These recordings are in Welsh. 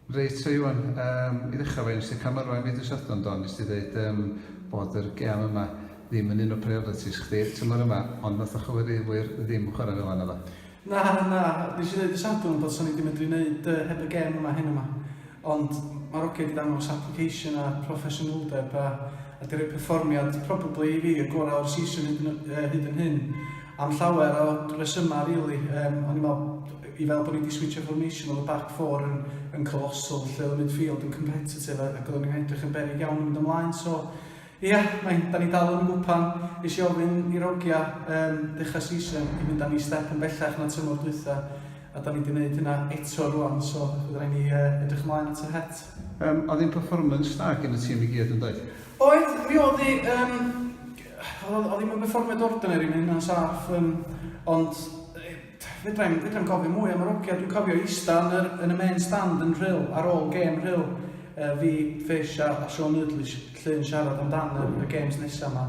Reit Iwan, yym i ddechrau efo hyn, wnes di camerwau mi dydd Sadwrn do, wnes di ddeud yym bod yr gêm yma ddim yn un o priorities chdi tymor yma, ond wnaeth y chwaraewyr ddim chwarae fel yna naddo? Na, na, wnes i ddeud dydd Sadwrn bod 'sa ni 'di medru wneud yy heb y gêm yma heno 'ma, ond ma'r ogiau 'di dangos application a proffesiynoldeb a a 'di rhoi perfformiad probably i fi y gorau o'r season hyd yn yy hyd yn hyn. Am llawer o resymau rili, yym o'n i'n meddwl i fel bod ni wedi switsio'r formation oedd y back four yn yn colossal lle oedd y midfield yn competitive ac oedden ni'n edrych yn beryg iawn yn mynd ymlaen so ia, mae'n, da ni dal yn y gwpan, nes i ofyn i Rogia um, dechrau season i fynd â ni step yn bellach na tymor dwytha a da ni wedi gwneud hynna eto rwan so bydd rhaid ni uh, edrych ymlaen at yr het. Um, oedd hi'n performance da gen y tîm i gyd yn dweud? Oedd, mi oedd hi, um, Oedd o ddim yn berfformiad ordinary, mae hynna'n saff, um, ond fedrai'm, fedrai'm cofio mwy am yr ogia. Dwi'n cofio eista yn, yr, yn y main stand yn rhyl, ar ôl gêm rhyl, uh, fi, Fish a, a Sean Noodle lle yn siarad amdan y, y games nesaf yma.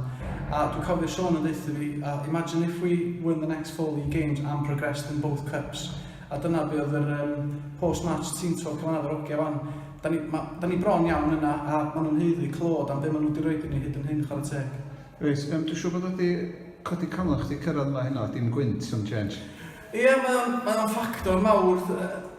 A dwi'n cofio Sean yn ddeitha fi, uh, imagine if we win the next four league games and progressed in both cups, A dyna be oedd yr um, post-match team talk yn fanna efo'r ogia fan. Da ni, ma, da ni bron iawn yna a maen nhw'n heiddi clod am be maen nhw wedi rhoi i ni hyd yn hyn chwarae teg. Reit, um, dwi'n siŵr bod wedi codi camau chdi cyrraedd yma hynna, dim gwynt sy'n change. Ie, yeah, mae o'n, mae o'n ffactor mawr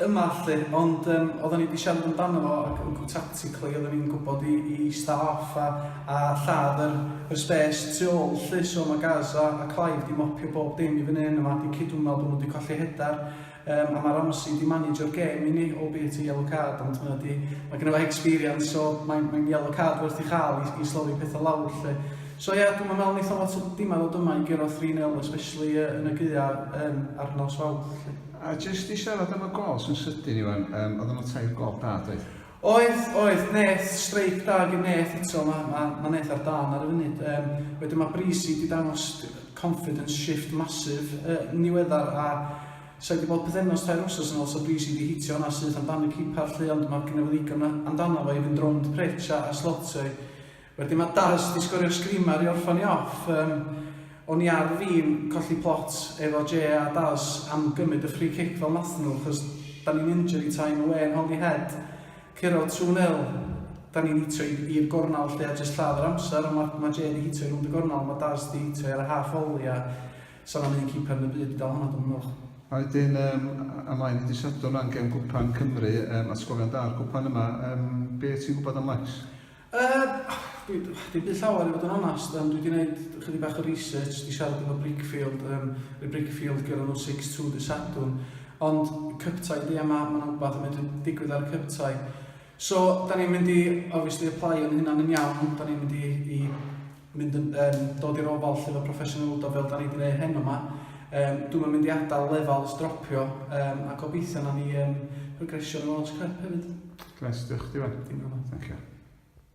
yma lle, ond um, oedden ni wedi siarad amdano fo ac yn basically oedden ni'n gwybod i, i staff a, a lladd yr, yr spes tu ôl lly, so mae Gaza a Clive di mopio bob dim i fyny yn yma, di cydwmno bod nhw wedi colli hedar, um, a mae Ramsey di managio'r gêm i ni, o byd ti yellow card, ond mae di, mae gen i fo experience, so mae'n mae yellow card werth i chael i, i slofi pethau lawr lly. So ie, yeah, dwi'n meddwl wnaeth o lot o dimau ddod yma i gyrraedd 3-0, especially uh, yn y gyda um, ar nos fawr lly. A jyst i siarad am y gol sy'n sydyn, Iwan, um, oedd yna tair gol da, dweud? Oedd, oedd, Neth, streic da gin Neth eto, mae ma, ma Neth ar dan ar y funud. Um, wedyn mae Breezy wedi dangos confidence shift masif uh, niweddar a sa'i wedi bod pethefnos tair wrsos yn ôl so Breezy wedi hitio hwnna syth amdano cipar lly ond mae gyda fo ddigon amdano fo i fynd rownd Pritch a, a slotio i. Wedyn ma Daz di sgorio screamer i orffan i off yym o'n i ar fin colli plot efo Jay a Daz am gymyd y free kick fel nathen nhw chos da ni'n injury time away yn Holyhead curo two nil da ni'n hitio i i'r gornal lly a jyst lladd yr amser ond ma ma Jay di hitio i rownd y gornal ma Daz di hitio i ar y half volley a sa na'm un keeper yn y byd di dal hwnna dwi'm yn meddwl. A wedyn yym a mlaen i dy Sadwrn ran gem gwpan Cymru yym atgofion da o'r gwpan yma yym be ti'n gwbod am Lex? Yy, dwi, dwi byth llawer i fod yn onast, um, dwi wedi gwneud chydig bach o research, wedi siarad efo Brickfield, um, y Brickfield gyda nhw 6-2 dy Sadwn, ond cyptau di a mae ma rhywbeth yn mynd i digwydd ar y cyptau. So, da ni'n mynd i, obviously, apply o'n hynna'n yn iawn, da ni'n mynd i, i mynd yn, yn dod i'r ofal lle fo proffesiynol do fel da ni wedi gwneud heno yma. Um, dwi'n mynd mynd i adael lefel stropio um, a gobeithio na ni um, progresio yn y Launch Cup hefyd. Gnes, diolch chdi wen. Dim problem. Thank you.